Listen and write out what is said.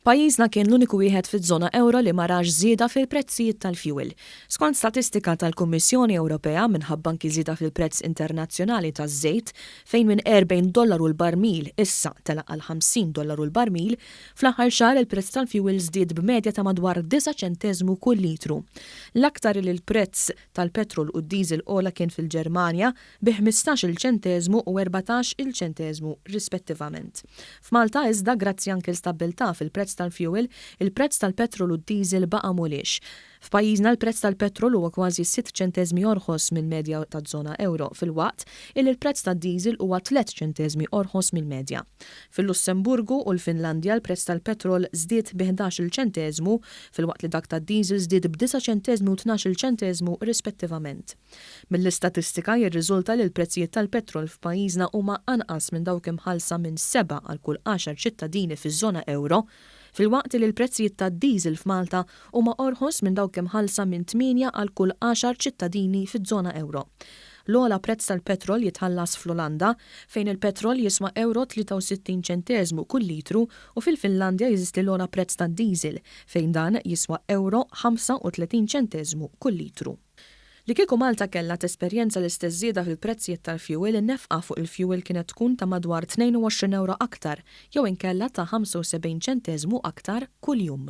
Pajjiżna kien l-uniku wieħed fiż-żona ewro li ma rax żieda fil-prezzijiet tal-fjuwil. Skont statistika tal-Kummissjoni Ewropea, minħabba anki żieda fil-prezz internazzjonali taż-żejt, fejn minn 40 dollaru l-barmil issa tela' għal 50 dollaru l-barmil, fl-aħħar xahar il-prezz tal-fjuwil żdied b'medja ta' madwar disa' ċenteżmu kull litru. L-aktar li l-prezz tal-petrol u d-diesel għola kien fil-Ġermanja, bi ħmistax-il ċenteżmu u erbatax-il ċenteżmu rispettivament. F'Malta iżda, grazzi anki l-stabbiltà fil-prezz tal-fjuwil, il-prezz tal-petrol u d-diesel baqa' mhuliex. F'pajjiżna l-prezz tal-petrol huwa kważi sitt ċenteżmi orħos mill-medja taż-żona ewro filwaqt illi l-prezz tad-diesel huwa tliet ċenteżmi orħos mill-medja. Fil-Lussemburgu u l-Finlandja l-prezz tal-petrol żdied bi ħdax-il ċenteżmu filwaqt li dak tad-diesel żdied b'disa' ċenteżmi u tnax-il ċenteżmu rispettivament. Mill-istatistika jirriżulta li l-prezzijiet tal-petrol f'pajjiżna huma anqas minn dawk imħallsa minn sebgħa għal kull għaxar ċittadini fiż-żona ewro, filwaqt li l-prezzijiet tad-diesel f'Malta huma orħos minn dawk imħallsa minn tmienja għal kull għaxar ċittadini fiż-żona ewro. L-ogħla prezz tal-petrol jitħallas fl-Olanda, fejn il-petrol jiswa ewro 63 ċenteżmu kull litru u fil-Finlandja jeżisti l-ogħla prezz tad-diesel, fejn dan jiswa ewro 35 ċenteżmu kull litru. Li kieku Malta kellha tesperjenza l-istess żieda fil-prezzijiet tal-fjuwil in-nefqa fuq il-fjuwil kienet tkun ta' madwar 22 ewro aktar jew inkella ta' 75 ċenteżmu aktar kuljum.